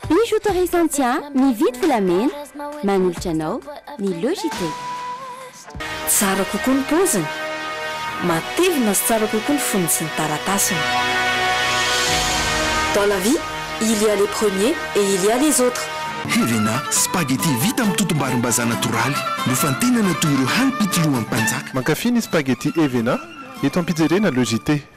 Bijo Autorisation-tsia mividy volamena manolotra anao ny Logitech. Tsara kokoa ny paoziny, matevina sy tsara kokoa ny fonony sy ny taratasiny. Dans la vie, il y a les premiers et il y a les autres. Helena, spaghetti vita amin'ny totom-barimbazaha natoraly, nofantenana toy ireo hanim-pitolohan'ny mpanjaka. Mankafy ny spaghetti Helena eto am-pijerena Logitech.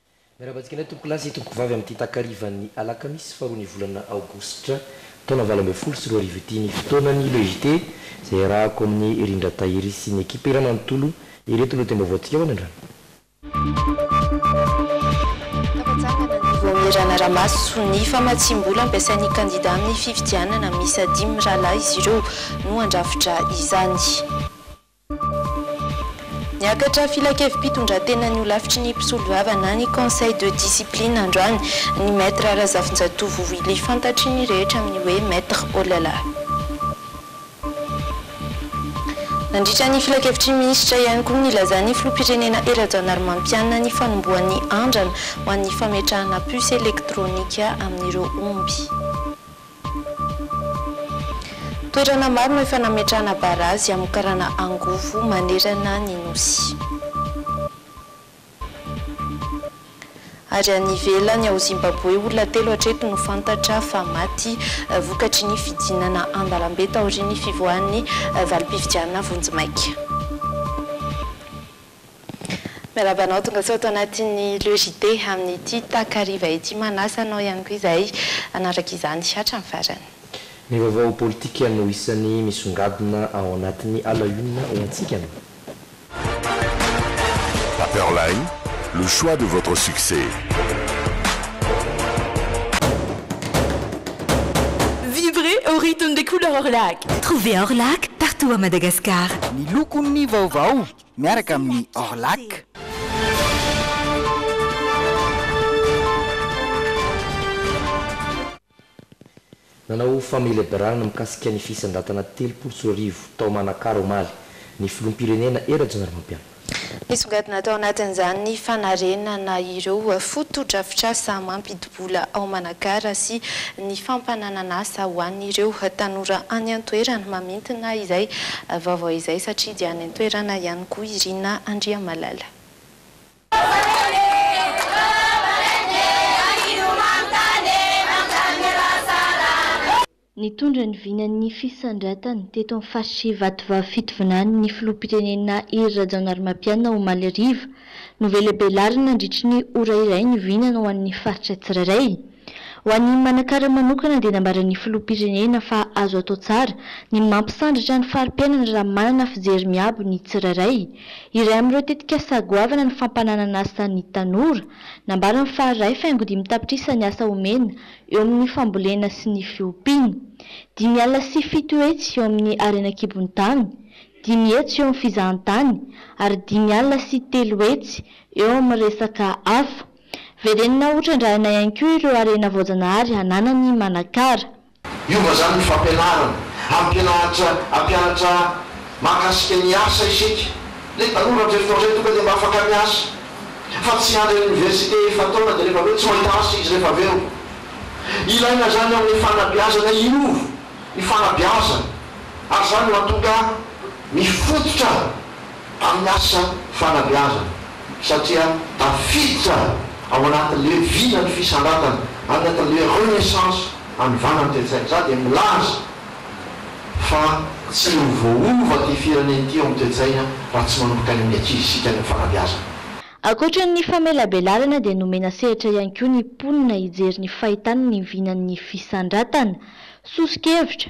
Miarahaba antsika indray tompokolahy sy tompokovavy amin'ity takarivan'ny alakamisy faharoa ny volana aogositra taona valo ambin'ny folo sy roa arivo ity ny fotoanan'ny Le JT izay iarahako amin'i Rindra Tahiry sy ny ekipa iray manontolo ireto no tem-baovaontsika ho any an-drano. Fampitsanganana ny vao miranara-maso ny famatsiam-bola ampiasain'ny kandida amin'ny fifidianana, miisa dimy mirahalahy izy ireo no handrafitra izany. Niakatra filankevi-pitondratenan'ny holafitry ny mpisolovava na ny Conseil de discipline androany ny Maître Razafinjatovo Willy fantatry ny rehetra amin'ny hoe Maître Olala. Nandritra ny filankevitry ny minisitra ihany koa nilazan'ny filoham-pirenena Hery Rajaonarimampianina ny fanombohan'ny andrana ho an'ny fametrahana puce elektronika amin'ireo omby. Toerana maro no efa nametrahana barazy hamokarana angovo manerana ny Nosy. Ary any ivelany, ao Zimbaboe, olona telo hatreto no fantatra fa maty vokatry ny fidinana an-dalambe taorian'ny fivoahan'ny valim-pifidianana vonjimaika. Miarahaba anao tongasoa ato anatin'ny Le JT amin'ity takariva ity. Manasa anao ihany koa izahay hanaraka izany hatramin'ny farany. Ny vaovao politika no isan'ny misongadina ao anatin'ny à la une ho antsika no. Paperline, le choix de votre succès. Vivrez au rythme des couleurs Orlac! Trouvez Orlac partout à Madagascar. Ny lokon'ny vaovao. miaraka amin'ny Orlac. Nanao fameleberana mikasika ny fisandrantana telopolo sy roa arivo tao Manakara omaly ny filoham-pirenena Hery Rajaonarimampianina. Nisongadina tao anatin'izany ny fanarenana ireo fotodrafitrasa mampidi-bola ao Manakara sy ny fampananana asa ho an'ireo tanora any an-toerana mamintina izay vaovao izay satria dia any toerana ihany koa i Rina Andriamalala. Nitondra ny vinan'ny fisandratany teto amin'ny faritra Ivatovavy Fitovinany ny filoham-pirenena Hery Rajaonarimampianina omaly hariva. Novelabelarina nandritry ny ora iray ny vinany ho an'ny faritra tsirairay. Ho an'i Manakara manokana dia nambaran'ny Filoham-pirenena fa azo atao tsara ny mampisandratra ny fari-piainana raha manana fijery miabo ny tsirairay. Iray amin'ireo tetikasa goavana ny fampananan'asa ny tanora. Nambarany fa ray faingo dimy tapitrisa ny asa omena eo amin'ny fambolena sy ny fiompiana, dimy alina sy fito hetsy eo amin'ny harena an-kibon'ny tany, dimy hetsy eo amin'ny fizahantany ary dimy alina sy telo hetsy eo amin'ny resaka hafa. Verenina ho trandrahina ihany koa ireo harena voajanahary ananany i Manakara. Hiova izany ny fampianarana. Hampianatra hampianatra mahakasika ny asa isika. Ilay tanora avy Forget tonga dia mba afaka miasa. Fa tsy hiandry any oniversite efa-taona dia rehefa avy eo tsy mahita asa izy rehefa avy eo. Ilaina izany amin'ny fanabeazana hiova ny fanabeazana ary izany no mahatonga mifototra. tamin'ny asa fanabeazana satria tafiditra ao anatin'ny leviana ny fisandratana anatin'ilay renaissance hanovana ny toe-tsaina. Izaho dia milaza fa tsy ho voaova ity firenena ity eo amin'ny toe-tsaina raha tsy manomboka any amin'ny ankizisika ny fanabeazana. Ankoatra ny famelabelarana dia nomena sehatra ihany koa ny mponina hijery ny fahitany ny vinan'ny fisandratana. Soso-kevitra,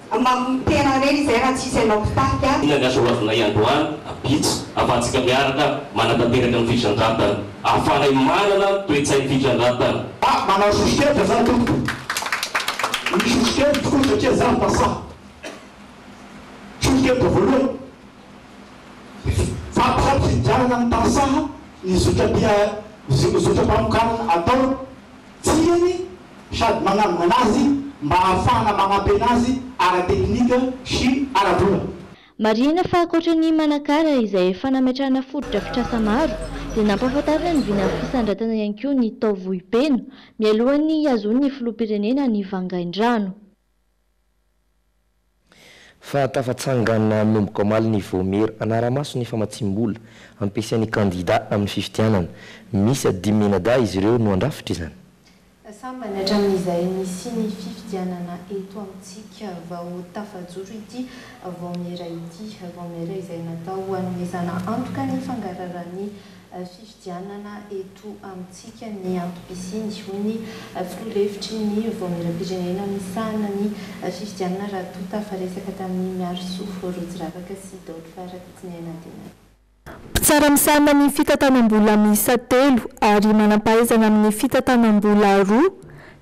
Mamono tena re izay raha tsy izy anao mpitarika. Inona ny asa ho azonay androany? Vitsy afahantsika miaraka manatanteraka ny fifandratana. Ahafahanay manana toe-tsain'ny fifandratana. Ah, manao sosokevitra za tompoko. Ny sosokevitro koa satria za mpasaha. Sosokevitra voalohany, fampifidianana ny mpasaha ny zotra-pia, zotra-pamokarana atao. tiany sady manangona azy mba hahafahana manampy anazy ara-teknika sy ara-bola. Marihina fa ankoatra ny Manakara izay efa nametrahana fotodrafitrasa maro dia nampahafantarina ny vina fisandratana ihany koa ny tao Vohipeno mialohan'ny hihazoan'ny filoham-pirenena ny vangaindrano. Fa tafatsangana manomboka omaly ny Vaomiera hanara-maso ny famatsiam-bola ampiasain'ny kandidà amin'ny fifidianana. Miisa dimy mianadahy izy ireo no handrafitra izany. Sambany hatramin'izay nisian'ny fifidianana eto amintsika vao tafajoro ity Vaomiera ity. Vaomiera izay natao hanomezana antoka ny fangararan'ny fifidianana. Fifidianana eto amintsika ny antom-pisiany, hoy ny filoha lefitry ny Vaomieram-pirenena misahana ny fifidianana raha toa tafaresaka tamin'i Miarisoa Rotsiravaka sy Daoly Rakotonena Denat. Mpitsara misahana ny fitantanam-bola miisa telo ary manam-pahaizana amin'ny fitantanam-bola roa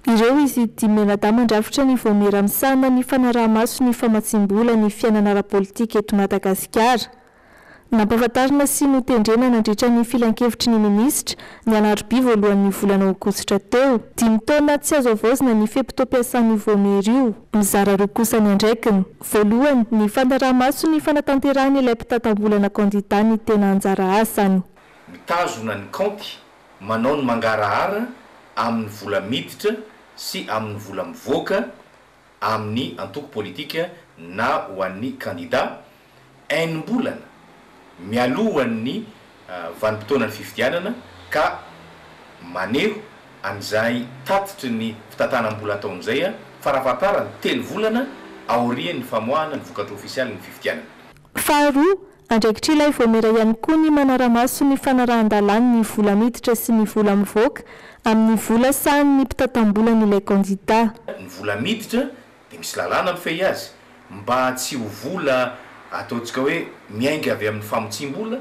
ireo izy dimy mianadahy mandrafitra ny Vaomiera misahana ny fanaraha-maso ny famatsiam-bola ny fiainana ara-politika eto Madagasikara. Nampahafantarina sy notendrena nandritra ny filankevitry ny minisitra, ny alarobia voalohan'ny volana aogositra teo. Dimy taona tsy azo havaozina ny fe-potoam-piasan'io vaomiera io. Mizara roa kosa ny andraikiny. Voalohany, ny fanaraha-maso ny fanatanterahan'ilay mpitantam-bolana kandidà ny tena anjara asany. Mitazona ny kaonty, manao ny mangarahara amin'ny vola miditra sy amin'ny vola mivoaka amin'ny antoko politika na ho an'ny kandidà, enim-bolana mialohan'ny vanim-potoanan'ny fifidianana ka maneho an'izay tatitry ny fitantanam-bola ataony izay farafahatarany telo volana aorian'ny famoahana ny vokatra ofisialin'ny fifidianana. Faharoa, andraikitr'ilay vaomiera ihany koa ny manara-maso ny fanarahan-dalàn'ny vola miditra sy ny vola mivoaka amin'ny vola sahanin'ny mpitantam-bolan'ilay kandidà. Ny vola miditra dia misy lalàna mifehy azy mba tsy ho vola ataontsika hoe miainga avy amin'ny famotsiam-bola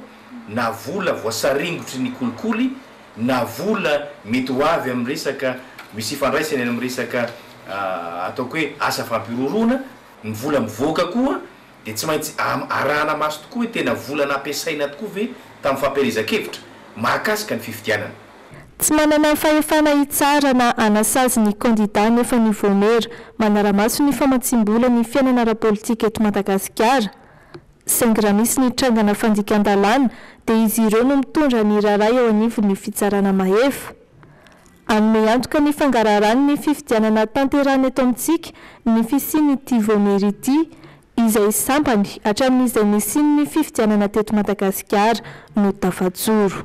na vola voasaringotry ny kolikoly na vola mety ho avy amin'ny resaka misy ifandraisany amin'ny resaka ataoko hoe asa fampihorohoroana, ny vola mivoaka koa dia tsy maintsy arahana maso tokoa hoe tena vola nampiasaina tokoa ve tamin'ny fampielezan-kevitra mahakasika ny fifidianana. Tsy manana fahefana hitsara na hanasazy ny kandidà nefa ny Vaomiera manara-maso ny famatsiam-bola ny fiainana ara-politika eto Madagasikara. Saingy raha misy ny trangana fandikan-dalàna dia izy ireo no mitondra ny raharaha eo anivon'ny fitsarana mahefa. Hanome antoka ny fangaraharahan' ny fifidianana hatanterahana eto amintsika ny fisian' ity Vaomiery ity, izay sampany hatramin' izay nisian' ny fifidianana teto Madagasikara no tafajoro.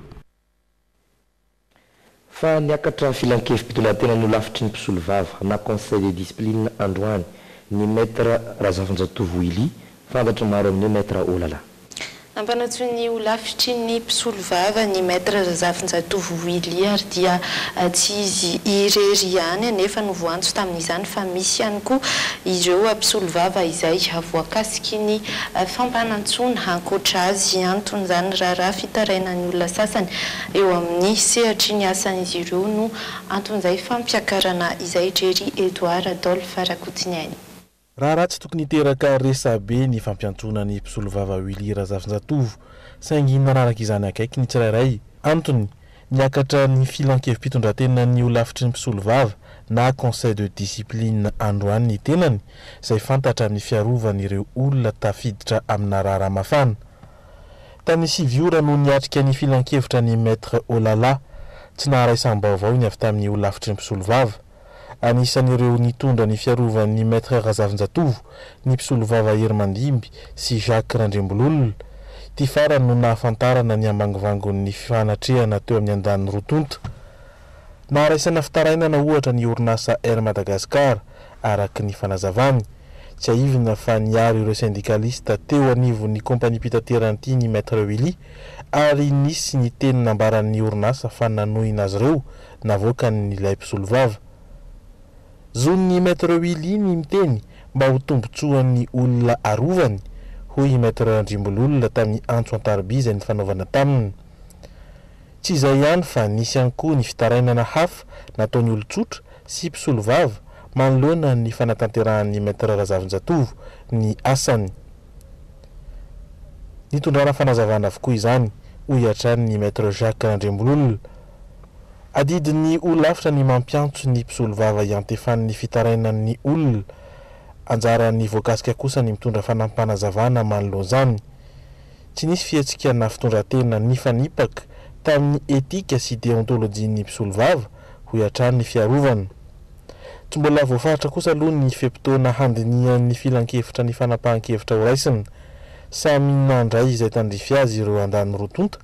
Fa niakatra filan-kevi-pitondrantena nolafitry ny mpisolovava na Conseil de discipline androany ny Maître Razafinjatovo Willy, Fantatry ny maro amin'ny hoe Maître Olala. Nampanantsoiny ny holafitry ny mpisolovava ny Maître Razafinjatovo Willy ary dia tsy izy irery ihany anefa no voantso tamin'izany fa misy ihany koa ireo mpisolovava izay voakasiky ny fampanantsoana. Ankoatra azy, anton'izany raharaha fitarainan'ny olona sasany eo amin'ny sehatry ny asan'izy ireo no anton'izay fampiakarana izay, Jerry Edouard Adolphe Rakotsiniaina. Raharaha tsy tokony hiteraka resabe ny fampiantsoana ny mpisolovava Willy Razafinjatovo, saingy nanaraka izany akaiky ny tsirairay. Antony, niakatra ny filan-kevi-pitondrantenan'ny holafitry ny mpisolovava na Conseil de discipline androany ny tenany, izay fantatra amin'ny fiarovany ireo olona tafiditra amina raharaha mafana. Tany sivy ora no niatrika ny filankevitra ny Maître Olala. Tsy naharaisam-baovao ny avy tamin'ny holafitry ny mpisolovava. Anisan'ireo nitondra ny fiarovan'ny Maître Razafinjatovo ny mpisolovava Hery Mandimby sy Jacques Randriambololona. Ity farany no nahafantarana ny ambangivangon'ny fifanatrehana teo amin'ny andaniny roa tonta. Naharaisana fitarainana ohatra ny orinasa Air Madagascar, araka ny fanazavany. Tsiahivina fa niaro ireo sendikalista teo anivon'ny kaompaniam-pitaterana ity ny Maître Willy ary nisy ny teny nambaran'ny orinasa fa nanohina azy ireo navoakan'ilay mpisolovava. Zon'ny Maître Willy ny miteny mba ho tombontsoan'ny olona arovany, hoy i Maître Randriambololona tamin'ny antso an-tarobia izay nifanaovana taminy. Tsy izay ihany fa nisy ihany koa ny fitarainana hafa nataon'ny olon-tsotra sy mpisolovava manoloana ny fanatanterahan'ny Maître Razafinjatovo ny asany. Nitondrana fanazavana avokoa izany, hoy hatrany ny Maître Jacques Randriambololona. Adidin'ny holafitra ny mampiantso ny mpisolovava hiantefan'ny fitarainan'ny olona. Anjaran'ny voakasika kosa ny mitondra fanampim-panazavana manoloana izany. Tsy nisy fihetsika na fitondran-tena nifanipaka tamin'ny etika sy deontolojian'ny mpisolovava, hoy hatrany ny fiarovana. Tsy mbola voafaritra kosa aloha ny fe-potoana handinihan'ny filankevitra ny fanapahan-kevitra horaisina. Samy nandray izay tandrify azy ireo andaniny roa tonta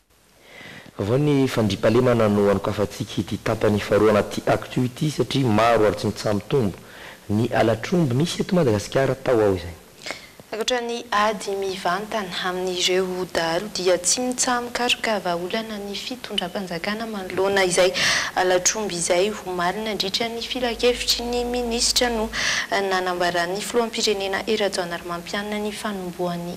Vaovao ny fandriampahalemana no anokafantsika ity tapany faharoa anaty Actu ity satria maro ary tsy mitsaha-mitombo ny halatr'omby nisy eto Madagasikara tao ao izay. Rakotra ny ady mivantana amin'ireo dahalo dia tsy mitsaha-mikaroka vahaolana ny fitondram-panjakana manoloana izay halatr'omby izay omaly nandritra ny filankevitry ny minisitra no nanambaran'ny filoham-pirenena Hery Rajaonarimampianina ny fanombohan'ny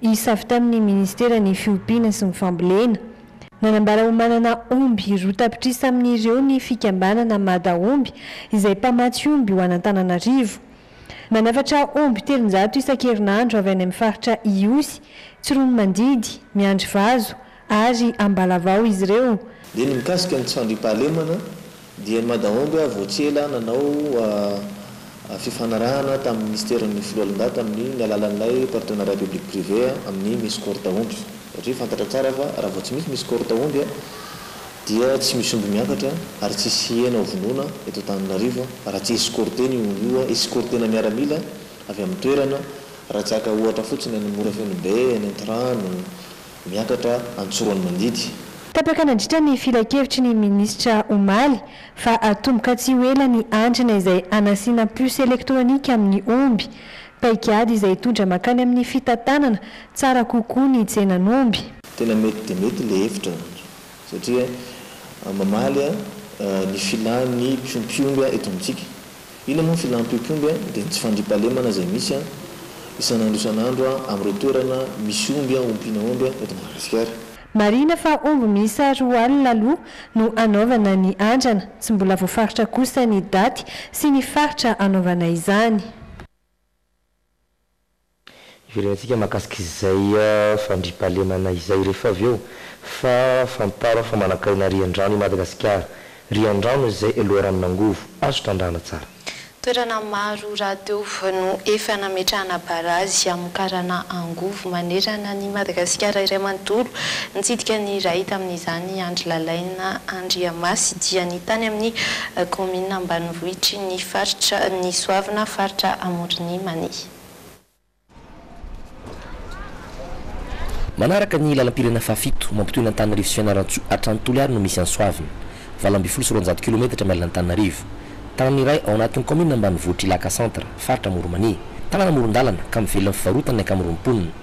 Hisavy tamin'ny Ministeran'ny Fiompiana sy ny Fambolena. Nanambara ho manana omby roa tapitrisa amin'ireo ny fikambanana Madaomby izay mpamatsy omby ho an'Antananarivo. Manafatra omby telonjato isan-kerinandro avy any amin'ny faritra Ihosy, Tsiroanomandidy, Miandrivazo, ary Ambalavao izy ireo. Dia ny mikasika ny tsy fandriampahalemana dia ny Madaomby avy tsy ela nanao fifanarahana tamin'ny Minisiteran'ny Foloalindahy tamin'ny ny alalan'ilay Partenariat Public Privé amin'ny Misy Corta Omby satria fantatra tsara fa raha vao tsy misy Misy Corta Omby dia tsy misy omby miakatra ary tsy hisy hena ho vonoina eto Antananarivo raha tsy escorter-na io omby io, escorter-na miaramila avy amin'ny toerana raha tsy haka ohatra fotsiny any Morafenobe, any Antirano, Miakatra an-tsorony mandidy. Tapaka nandritra ny filankevitry ny minisitra omaly fa hatomboka tsy ho ela ny andrana izay hanasiana puce elektronika amin'ny omby. Paikady izay hitondra mankany amin'ny fitantanana tsara kokoa ny tsenan'omby. Tena mety dia mety ilay hevitra satria mamaly ny filàn'ny mpiompy omby eto amintsika. Inona moa ny filan'ny tiotiomby a? Dia ny tsy fandriampahalemana izay misy a, isan'andro isan'andro a, amin'ireo toerana misy omby a, ompiana omby a, eto Madagasikara. Marihina fa omby miisa roa alina aloha no hanaovana ny andrana. Tsy mbola voafaritra kosa ny daty sy ny faritra hanaovana izany. Hiverenantsika mahakasika izay fandriampahalemana izay rehefa avy eo fa fantaro fa manankarena riandrano i Madagasikara. Riandrano izay loharanon'angovo. Azo trandrahana tsara. Toerana maro rahateo no efa nametrahana barazy hamokarana angovo manerana an'i Madagasikara iray manontolo. Nitsidika ny iray tamin'izany Andry Lalaina Andriamasy, dia ny tany amin'ny Kaominina ambanivohitry ny faritra ny Soavina, faritra Amoron'i Mania. Manaraka ny lalam-pirenena fahafito, mampitohy an'Antananarivo sy Fianarantsoa hatrany Toliary no misy an'i Soavina. Valo ambin'ny folo sy roanjato kilometatra miala an'Antananarivo. Tanàna iray ao anatin'ny kaominina ambanivohitr'i Ilaka Centre, faritra Amoron'i Mania. Tanàna amoron-dalana, ka mivelona amin'ny fivarotana ny ankamaroan'ny mponina.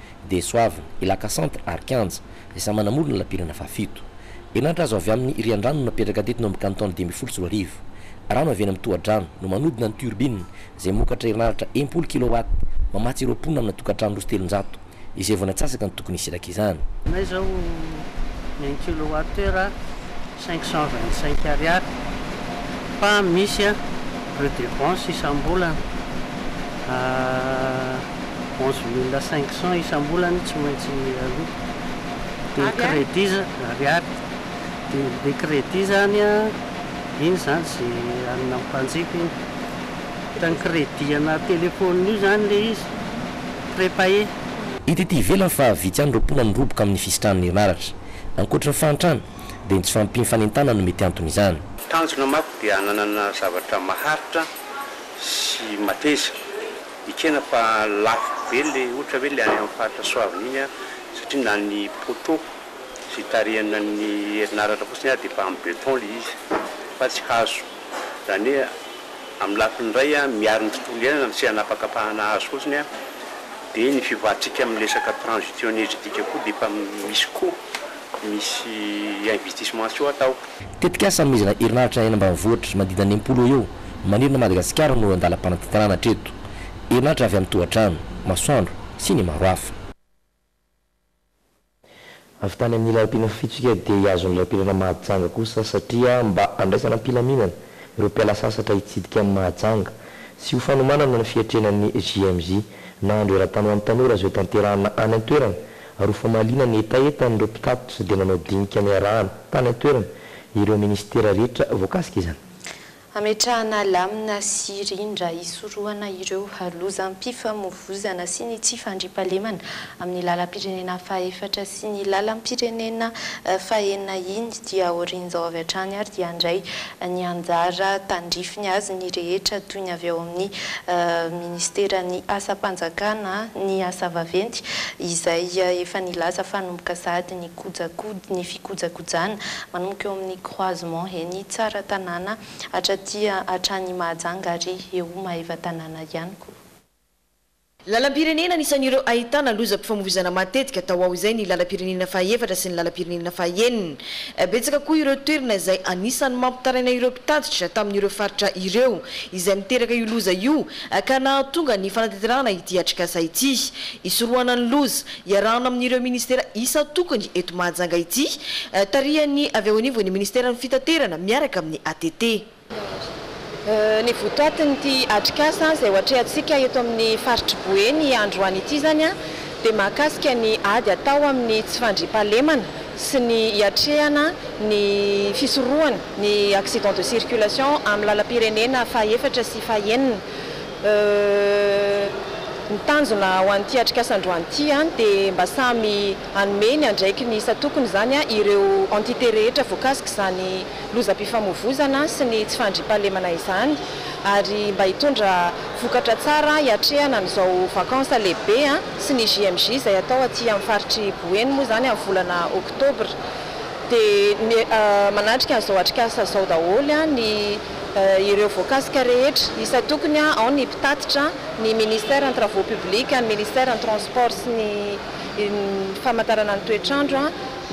dia Soava, i Lakasanty ary Kianja, izay samy manamoro ny lalam-pirenena fahafito. Herinaratra azo avy amin'ny riandrano no napetraka teto no amin'ny kanton dimy ambin'ny folo sy roa arivo. Rano avy eny amin'ny tohadrano no manodina ny turbine izay mamokatra herinaratra enimpolo kilowatt mamatsy ireo mponina amina tokantrano roa sy telonjato izay vao natsasaka ny tokony hisiraka izany. May izao ny un kilowatt heure a! cinq cent vingt cinq ariary fa misy a redevance isambolana a onze mille cinq cent isambolana tsy maintsy aloa de credit za ariary de le credit zany a iny zany ze anina mpanjifa iny fa ny credit ana telephone io zany le izy prepayer. Hita ety ivelany fa vitsy ihany ireo mponina miroboka amin'ny fisitrahan'ny herinaratra. Ankoatra ny fahantrana, dia ny tsy fahampiam-panentanana no mety anton'izany. Tanjona manko dia hananana zavatra maharitra sy mateza. Ekena fa lafo be le ohatra hoe le any amin'ny faritra Soavina iny satria na ny poteaux izay itarihana ny herinaratra fotsiny ary dia efa amin'ny beton le izy fa tsy hazo. Izany hoe amin'ny lafiny iray miaro ny tontolo iainana ny tsy hanapakapahana hazo fotsiny dia ny fivoarantsika amin'ny resaka transition energetique koa dia efa misy koa. misy investissement tsy ho atao. Tetikasa hanomezana herinaratra any ambanivohitra manodidina ny enimpolo eo ho eo manerana an'i Madagasikara no andalam-panantentanana hatreto. Herinaratra avy amin'ny tohatrano, masoandro sy ny maro hafa. Avy tany amin'ny lalam-pirenena fitsipika dia hihazo ny lalam-pirenena Mahajanga kosa satria mba handraisana am-pilaminana ireo mpiala sasatra hitsidika an'i Mahajanga sy ho fanomanana ny fiatrehana ny JMJ na Andro Eran-tany ho an'ny tanora izay hotanterahina any an-toerana ary ho famaliana ny hetahetan'ireo mpitatitra dia manao dinika niarahana, tany an-toerana, ireo minisitera rehetra voakasika izany. Hametrahana lamina sy rindra hisorohana ireo lozam-pifamovoizana sy ny tsy fandriampahalemana amin'ny lalam-pirenena fahefatra sy ny lalam-pirenena fahenina iny dia aorian'izao avy hatrany ary dia handray ny anjara tandrifiny azy ny rehetra toy ny avy ao amin'ny Ministeran'ny Asam-panjakana ny asa vaventy izay efa nilaza fa hanomboka sahady ny kojakod ny fikojakojana manomboka eo amin'ny croisement eny Tsaratanàna hatraty hatrany Mahajanga ary eo Maevatanàna ihany koa. Lalam-pirenena anisan'ireo ahitana lozam-pifamoivoizana matetika tao ao izay ny lalam-pirenena faha efatra sy ny lalam-pirenena faha enina. Betsaka koa ireo toerana izay anisan'ny mampitaraina ireo mpitatitra tamin'ireo faritra ireo izay miteraka io loza io ka nahatonga ny fanatanterahana ity atrikasa ity. Hisorohana ny loza, iarahana amin'ireo minisitera isan-tokony eto Mahajanga ity, tarihan'ny avy ao anivon'ny minisiteran'ny Fitaterana miaraka amin'ny ATT. Ny votoatin'ity atrikasa izay hoatrehantsika eto amin'ny faritr'i Boeny androany ity izany dia mahakasika ny ady atao amin'ny tsy fandriampahalemana sy ny hiatrehana ny fisorohana ny accident de circulation amin'ny lalam-pirenena fahaefatra sy fahaenina. Ny tanjona ho an'ity atrikasa androany ity dia mba samy hanome ny andraikiny isan-tokony izany ireo entités rehetra voakasik'izany lozam-pifamoivozana sy ny tsy fandriampahalemana izany ary mba hitondra vokatra tsara hiatrehana an'izao vacances lehibe sy ny JMJ izay atao aty amin'ny faritr'i Boeny moa izany amin'ny volana oktobra dia manatrika an'izao atrikasa izao daholo ny ireo voakasika rehetra isan-tokony ao ny mpitatitra, ny ministère ny travaux publics, ny ministère ny transport sy ny famantarana ny toetr'andro.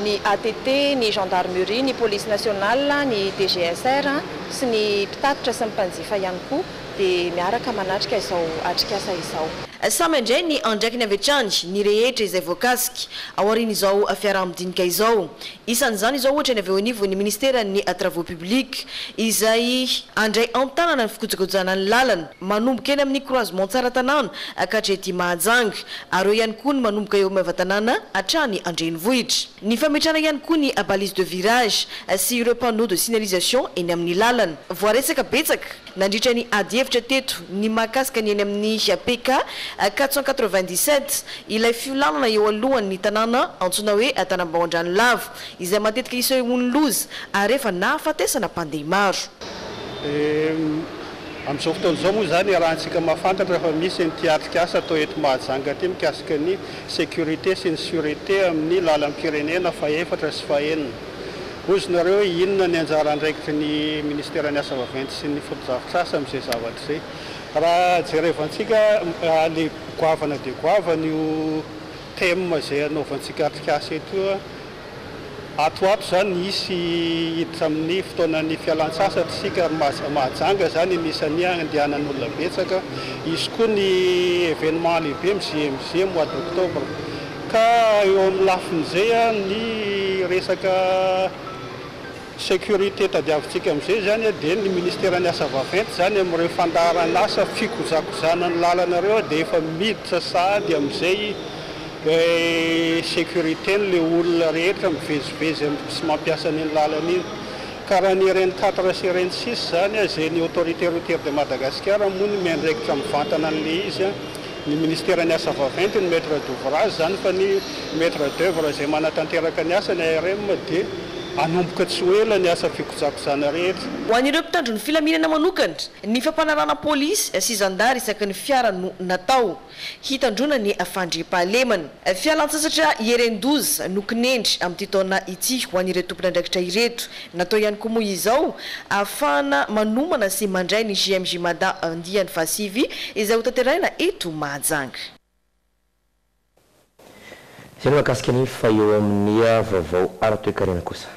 ny ATT, ny Gendarmerie, ny Police Nationale, ny DGSR sy ny mpitatitra sy ny mpanjifa ihany koa dia miaraka manatrika izao atrikasa izao. Samy handray ny andraikiny avy hatrany ny rehetra izay voakasika ao aorian'izao fiaraha-midinika izao. Isan'izany izao ohatra ny avy eo anivon'ny Ministeran'ny Travaux Publics izay handray an-tanana ny fikojakojana ny lalana Manomboka eny amin'ny croisement Tsaratanàna ka hatrety Mahajanga, ary eo ihany koa ny manomboka eo Maevatanàna hatrany an-drenivohitra. Ny fametrahana ihany koa ny balises de virage sy ireo panneaux de signalisation eny amin'ny lalana. Voaresaka betsaka nandritra ny ady hevitra teto ny mahakasika ny eny amin'ny PK quatre cent quatre-vingt-dix-sept, ilay fiolanana eo alohan'ny tanàna antsoina hoe Tanambao-Andranolava, izay matetika isehoan'ny loza ary efa nahafatesana mpandeha maro. Amin'izao fotoana izao moa izany iarahantsika mahafantatra fa misy an'ity atrikasa atao eto Mahajanga ity mikasika ny sécurité sy ny surete amin'ny lalam-pirenena fahefatra sy fahenina. Bozonareo hoe inona ny anjara andraikitry ny Ministeran'ny asa vaventy sy ny fotodrafitrasa amin'izay zavatra izay. Raha jerevantsika le goavana dia goavana io thème izay anaovantsika atrikasa eto io. Ato ho ato izany hisy hiditra amin'ny fotoanan'ny fialantsasatra isika ary mahajanga izany ny isan'ny handehanan'olona betsaka. Hisy koa ny événement lehibe amin'ny JMJ mois d'octobre. Ka eo amin'ny lafin'izay ny resaka. Sécurité tadiavintsika amin'izay izany dia ny ministeran'ny asa vaventy izany amin'ireo fandaharan'asa fikojakozana ny lalana ireo dia efa miditra sahady amin'izay sécurité-ny ilay olona rehetra mivezivezy amin'ny sy mampiasa an'iny lalana iny ka raha ny RN quatre sy RN six izany izay ny autorité routière de Madagasikara moa no miandraikitra mivantana an'ilay izy Ny Ministeran'ny Asa Vaventy no Maître d'ouvrage izany fa ny Maître d'œuvre izay manatanteraka ny asa, ny ARM, dia hanomboka tsy ho ela ny asa fikojakojana rehetra. Ho an'ireo mpitandro ny filaminana manokana, ny fampanarahana polisy sy zandary isaky ny fiara no natao, hitandroana ny fandriampahalemana. Fialantsasatra hieren-doza no kinendry amin'ity taona ity ho an'ireo tompon'andraikitra ireto, Natao ihany koa moa izao ahafahana manomana sy mandray ny JMJ Mada andiany fahasivy izay hotanterahina eto Mahajanga. Izay ny mahakasika ny fa eo amin'ny vaovao ara-toekarena kosa.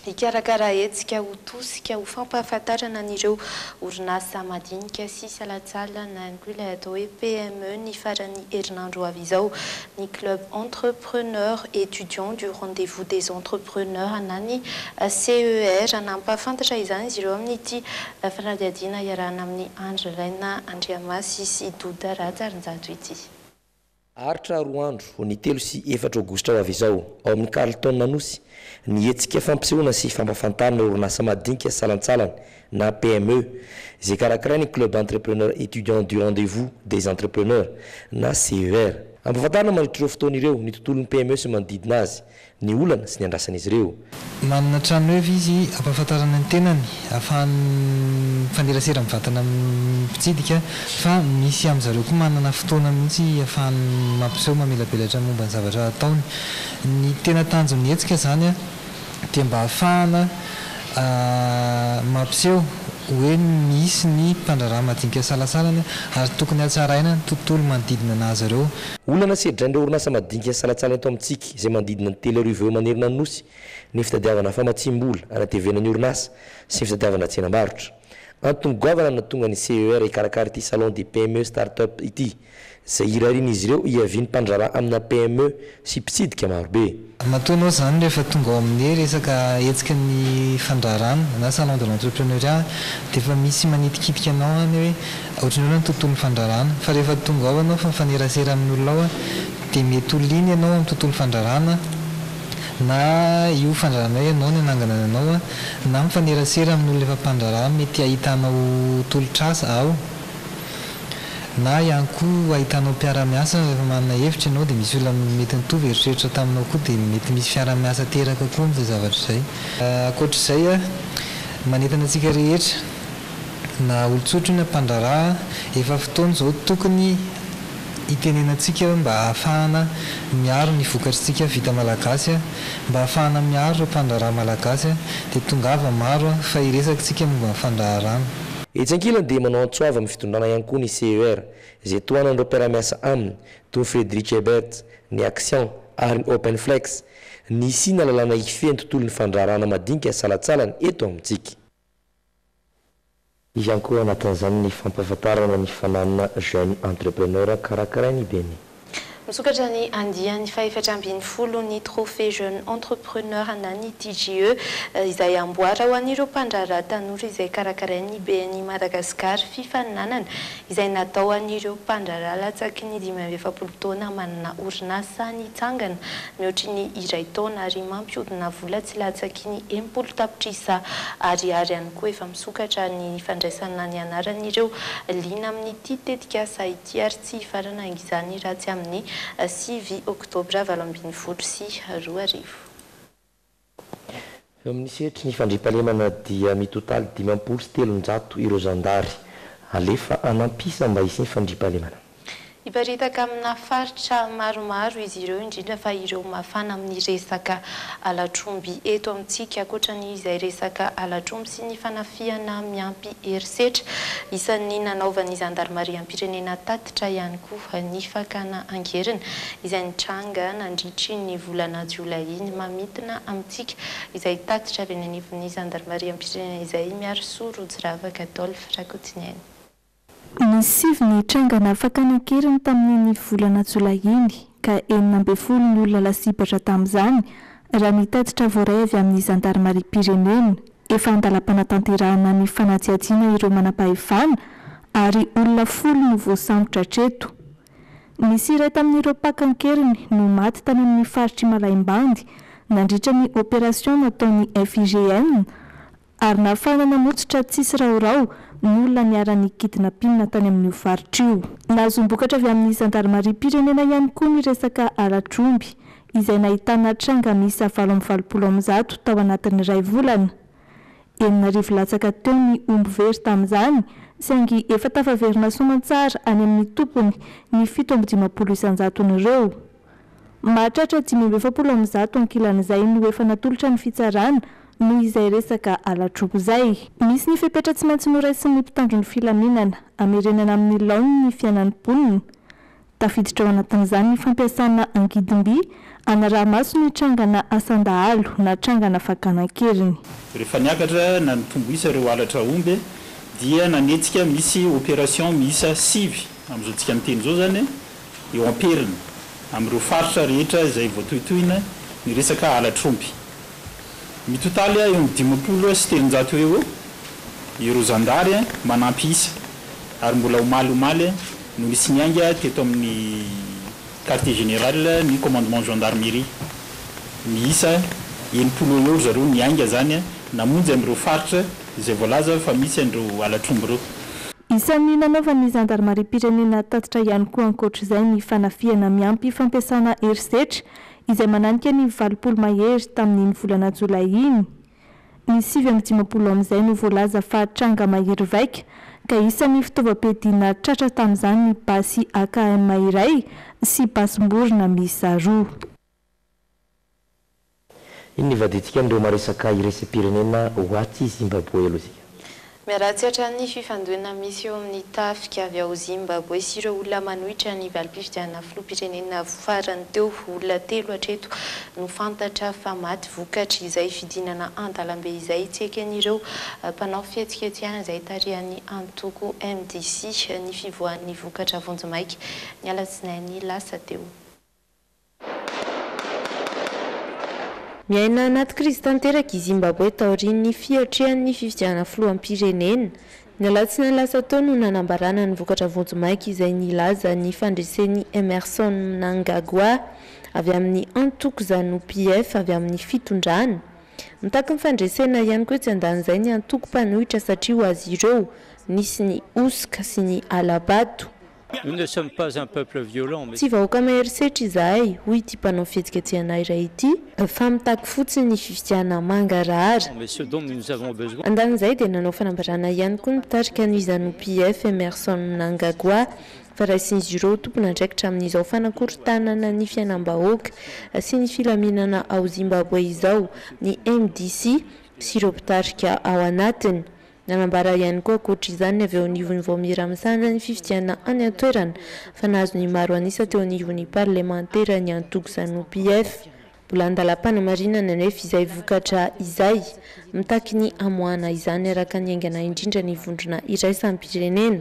Hikarakara hetsika ho tosika ho fampahafantarana an'ireo orinasa madinika sy salatsalana inclut ilay atao hoe PME ny faran'ny herinandro ho avy izao ny Club Entre. preneur étudiant du rendez-vous des entrepreneurs na ny CER. Nampahafantatra izany izy ireo amin'ity fanadihadiana iarahana amin'i Andry Raina Andriamasy sy Douda Rajarinjato ity. Haharitra roa andro, ho ny telo sy efatra aogositra ho avy izao, ao amin'ny Carlton Anosy, ny hetsika fampisehoana sy fampahafantarana orinasa madinika salantsalany na PME, izay karakarain'ny Club Entrepreneur Etudiant du Rendez-vous des Entrepreneurs na CER. Ampahafantarina mandritra ireo fotoana ireo ny tontolon'ny PME sy ny manodidina azy, ny olana sy ny andrasan'izy ireo. Manana trano eva izy ampahafantarana ny tenany ahafahany mifanerasera mivantana amin'ny mpitsidika fa misy amin'zareo koa manana fotoana mihitsy ahafahany mampiseho mamelabelatra momba ny zavatra ataony. Ny tena tanjon'ny hetsika izany. dia mba hahafahana mampiseho hoe misy ny mpandraharaha madinika isalasalany ary tokony hatsaraina ny tontolo manodidina anazy ireo. Olana tsy hedrain'ireo orinasa madinika isalatsala eto amintsika izay manodidina ny telo arivo eo manerana ny Nosy ny fitadiavana famatsiam-bola hanatevena ny orinasa sy ny fitadiavana tsenam-barotra. Antony goavana no nahatonga ny CER hikarakara ity Salon des PME Start-up ity. Izay irarian'izy ireo hiavian'ny mpandraharaha amina PME sy mpitsidika marobe. Matoa ianao izany rehefa tonga ao amin'ny resaka hetsika ny fandraharahana na salon de l'entrepreneuriat dia efa misy manitikitika anao any hoe ohatran'ny ahoana ny tontolon'ny fandraharahana fa rehefa tonga ao ianao fa mifanerasera amin'ny olona ao dia mety ho liana ianao amin'ny tontolo fandraharahana na io fandraharahana io ianao no hanangana ny anao na mifanerasera amin'olona efa mpandraharaha mety hahitanao tolotr'asa ao Na ihany koa ahitanao mpiara-miasa rehefa manana hevitra ianao dia misy olona mety nitovy eritreritra taminao koa dia mety misy fiaraha-miasa teraka koa amin'izay zavatra izay. Ankoatr'izay, manentana antsika rehetra, na olon-tsotra io na mpandraharaha, efa fotoana izao tokony hitenenantsika mba hahafahana miaro ny vokatr'isika vita malagasy, mba hahafahana miaro ireo mpandraharaha malagasy dia tongava maro fa hiresaka isika momba ny fandraharahana. Etsy ankilany dia manao antso avo amin'ny fitondrana ihany koa ny CER, izay tohanan'ireo mpiara-miasa aminy, toy ny Frederick Ebert, ny Axian ary ny Open Flex, ny hisiana lalàna hifehy ny tontolon'ny fandraharahana madinika salatsalany eto amintsika. Misy ihany koa ao anatin'izany ny fampahafantarana ny fananana Jeune Entrepreneur karakarain'ny Beni. Misokatra ny andiany fahefatra ambin'ny folo ny Trophée Jeune Entrepreneur ana ny TJE, izay amboara ho an'ireo mpandraharaha tanora izay karakarain'ny BNI Madagascar fifaninanana izay natao ho an'ireo mpandraharaha latsaky ny dimy amby efapolo taona manana orinasa nitsangana mihoatry ny iray taona ary mampihodina vola tsy latsaky ny enimpolo tapitrisa ariary ihany koa efa misokatra ny fandraisana ny anaran'ireo liana amin'ity tetikasa Tsy ary tsy hifarana izany raha tsy amin'ny sivy oktobra valo ambin'ny folo sy roa arivo. Eo amin'ny sehatry ny fandriampahalemana dia mitotaly dimampolo sy telonjato ireo zandary alefa hanam-pisa mba hisian'ny fandriampahalemana. Hiparitaka amina faritra maromaro izy ireo indrindra fa ireo mafana amin'ny resaka halatr'omby eto amintsika. Ankoatra ny izay resaka halatr'omby, sy ny fanafihana miampy herisetra. Isan'ny nanaovan'ny zandarimariam-pirenena tatitra ihany koa ny fakana angerina izay nitranga nandritry ny volana jolay iny. Mamintina amintsika izay tatitra avy any anivon'ny zandarimariam-pirenena izay, Miarisoa Rojiravaka Adolphe Rakotoniaina. Ny sivy ny trangana fakana an-keriny tamin'iny volana jolay iny, ka enina ambin'ny folo ny olona lasibatra tamin'izany, raha ny tatitra voaray avy amin'ny zandarimariam-pirenena. Efa an-dalam-panatanterahana ny fanadihadiana ireo manam-pahefana, ary olona folo no voasambotra hatreto. Nisy iray tamin'ireo mpaka an-keriny no maty tany amin'ny faritr'i Malaimbandy, nandritra ny operation nataon'ny FIGN ary nahafahana namotsotra tsisy rahoraho ny olona niara-nikidina mpinina tany amin'io faritra io. Nahazoam-bokatra avy amin'ny zandarimariam-pirenena ihany koa ny resaka ara-dromby, izay nahitana tranga miisa valo amby valopolo amin'ny zato tao anatin'ny iray volana. Enina arivo latsaka teo ny omby very tamin'izany, saingy efa tafaverina soamantsara any amin'ny tompony ny fito amby dimampolo isan-jaton'ireo. Mahatratra dimy amby efapolo amin'ny zato ankilan'izay no efa natolotra ny fitsarana noho izay resaka ala-droa izay. Misy ny fepetra tsy maintsy noraisin'ny mpitandro ny filaminana hamerenana amin'ny laoniny ny fiainan'ny mponina. Tafiditra ao anatin'izany ny fampiasana angidimby hanaraha-maso ny trangana asan-dahalo na trangana fakana an-keriny. Rehefa niakatra na nitombo isa ireo halatra omby dia nanetsika misy opération miisa sivy, amin'izao tsika miteny izao izany. eo am-periny amin'ireo faritra rehetra izay voatohitohina ny resaka halatr'omby. Mitotaly eo amin'ny dimampolo sy telonjato eo ho eo ireo zandary manampy isa ary mbola omaly omaly no nisy niainga teto amin'ny Quartier Général ny Commandement Gendarmerie. Miisa enimpolo eo ho eo ry zareo niainga izany namonjy amin'ireo faritra. izay voalaza fa misy an'ireo halatr'omby ireo. Isan'ny nanaovan'ny zandarimariam-pirenena tatitra ihany koa ankoatra izay ny fanafihana miampy fampiasana herisetra izay mananika ny valopolo mahery tamin'iny volana jolay iny. Ny sivy amby dimampolo amin'izay no voalaza fa tranga mahery vaika ka isan'ny fitaovam-piadiana tratra tamin'izany ny basy akm iray sy basim-borona miisa roa. Inona ivadintsika amin'ireo maresaka iraisam-pirenena ho atsy Zimbaboe aloha isika? Miharatsy hatrany ny fifandonana misy eo amin'ny tafika avy ao Zimbaboe sy ireo olona manohitra ny valim-pifidianana filoham-pirenena farany teo. Olona telo hatreto no fantatra fa maty vokatr'izay fidinana an-dalambe izay tsy eken'ireo mpanao fihetsiketsehana izay tarihan'ny antoko MDC ny fivoahan'ny vokatra vonjimaika ny alatsinainy lasa teo. Miaina anaty krizy tanteraka i Zimbaboe taorian'ny fiatrehan'ny fifidianana filoham-pirenena. Ny alatsinainy lasa teo no nanambarana ny vokatra vonjimaika izay nilaza ny fandresen'i Emmerson Mnangagwa avy amin'ny antoko Zanu PF avy amin'ny fitondrana. Mitaky ny fandresena ihany koa etsy andanin'izay ny antoko mpanohitra satria ho azy ireo nisy ny hosoka sy ny hala-bato. Tsy vahoaka mahery setra izahay, hoy ity mpanao fihetsiketsehana iray ity, fa mitaky fotsiny ny fifidianana mangarahara. Andanin'izay dia nanao fanambarana ihany koa ny mpitarika ny Zanu-PF, Emmerson Mnangagwa, fa raisin'izy ireo ho tompon'andraikitra amin'izao fanakorontanana ny fiainam-bahoaka sy ny filaminana ao Zimbabwe izao ny mdc sy ireo mpitarika ao anatiny. Nanambara ihany koa ankoatra izany ny avy eo anivon'ny Vaomiera misahana ny fifidianana any an-toerana fa nahazo ny maro an'isa teo anivon'ny parlemantera ny antoko Zanu PF. Mbola an-dalam-panamarinana anefa izay vokatra izay. Mitaky ny hamoahana izany araka ny haingana indrindra ny vondrona iraisam-pirenena.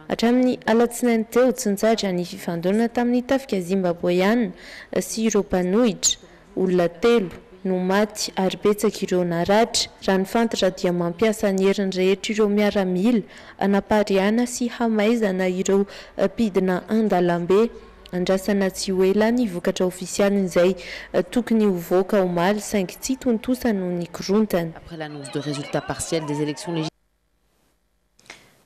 Hatramin'ny alatsinainy teo tsy nitsahatra ny fifandonana tamin'ny tafika Zimbaboeana sy ireo mpanohitra. Olona telo no maty ary betsaka ireo naratra. Raha ny fantatra dia mampiasa ny heriny rehetra ireo miaramila hanapariahana sy hamaizana ireo mpidina an-dalambe. Andrasana tsy ho ela ny vokatra ofisialin'izay tokony hovoaka omaly saingy tsy tontosa noho ny korontana.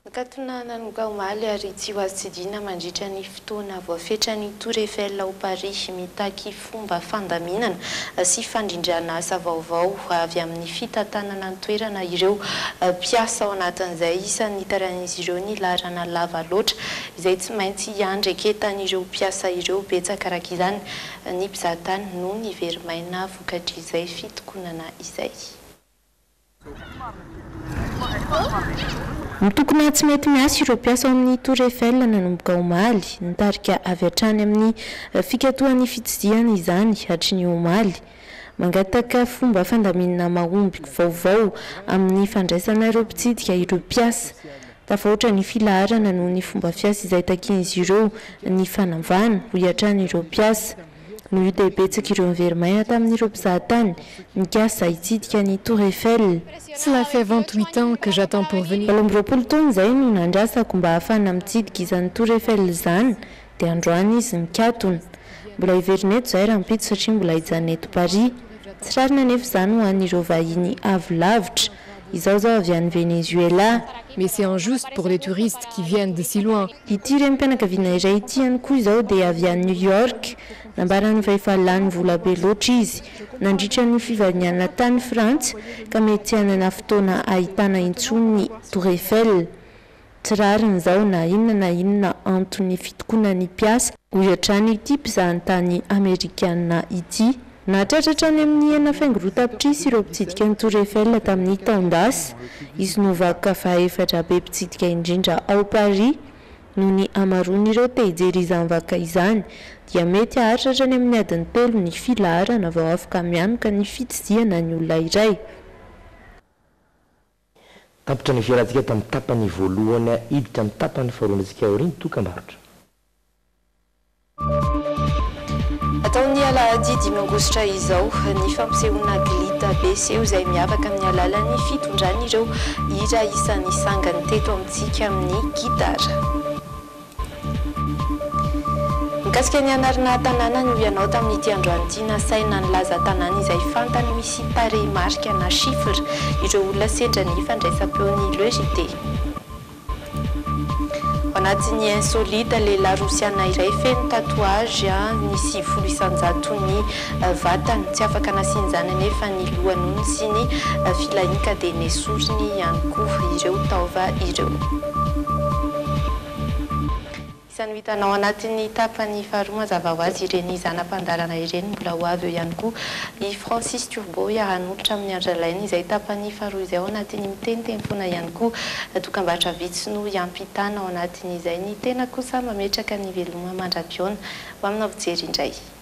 Nakatona nanomboka omaly ary tsy ho azo tsidihina mandritra ny fotoana voafetra ny Tour Eiffel ao Paris, mitaky fomba fandaminana sy fandrindrana asa vaovao avy amin'ny fitantanana ny toerana ireo mpiasa, ao anatin'izay isan'ny nitarain'izy ireo ny laharana lava loatra izay tsy maintsy hiandraiketan'ireo mpiasa ireo. Betsaka araka izany ny mpizahatany no nivery maina vokatr'izay fitokonana izay. Mitokona tsy mety miasa ireo mpiasa ao amin'ny Tour Eiffel nanomboka omaly. Nitarika avy hatrany amin'ny fikatohan'ny fitsizihana izany hatry ny omaly. Mangataka fomba fandaminana mahomby vaovao amin'ny fandraisana ireo mpitsidika ireo mpiasa. Tafahoatra ny filaharana noho ny fomba fiasa izay takian'izy ireo ny fanavahana, hoy hatrany ireo mpiasa. Noho io dia betsaka ireo nivery maina tamin'ireo mpizaha tany nikasa hitsidika ny Tour Eiffel. Cela fait vingt huit ans que j'attends pour venir. Valo amby roapolo taona izay no nandrasako mba hahafahana mitsidika izany Tour Eiffel izany dia androany izy mikatona. Mbola hiverina eto izahay rahampitso satria mbola hijanona eto Paris. Tsy rariny anefa izany ho an'ireo vahiny avy lavitra. Izaho zao avy any Venezuela. Mais c'est injuste pour les touristes qui viennent de si loin. Ity renim-pianakaviana iray ity ihany koa izao dia avy any New York. Nambarany fa efa lany vola be loatra izy nandritra ny fivahinianana tany Frantsa ka mety tsy hanana fotoana hahitana intsony ny Tour Eiffel. Tsy rariny izao na inona na inona anton'ny fitokonany ny mpiasa, hoy hatrany ity mpizahatany Amerikana ity. Nahatratra hatrany amin'ny enina faingo roa tapitrisa ireo mpitsidika ny Tour Eiffel tamin'ny taon-dasa. I Snovac fahaefatra be mpitsidika indrindra ao Paris. Noho ny hamaroan'ireo te hijery izany vaca izany, dia mety haharitra hatrany amin'ny adiny telo ny filaharana vao afaka mianoka ny fitsidihana ny olona iray. Tapitra nivelantsika tamin'ny tapany voalohany hiditra amin'ny tapany faharoa andratsika aoriana ny dokam-barotra. Atao ny alahady dimy aogositra izao ny fampisehoana Glita be seho izay miavaka amin'ny alalan'ny fitondrany ireo hira isan'ny sangany teto amintsika amin'ny gitara. Mikasika ny hanarina tanàna no ianao tamin'ity androany ity nasaina nilaza tanàna izay fantany misy tarehimarika na chiffres ireo olona sendra ny fandraisam-peon'ny Le JT. Ao anatin'ny insolite, lehilahy rosiana iray feno tatouage ny sivifolo isan-jaton'ny vatany, tsy afaka nasian'izany anefa ny lohanony sy ny filahiny ka dia nesoriny ihany koa ireo taova ireo. Isan'ny ho hitanao anatin'ny tapany faharoa mazava ho azy ireny zana-pandalana ireny, mbola ho avy eo ihany koa i Francis Turbo hiara-hanolotra amin'ny Andrialainy izay tapany faharoa izay ao anatin'ny miteniteny foana ihany koa, dokambarotra vitsy no hiampitana ao anatin'izay ny tena kosa mametraka ny veloma mandra-pihaona ho aminao fijery indray.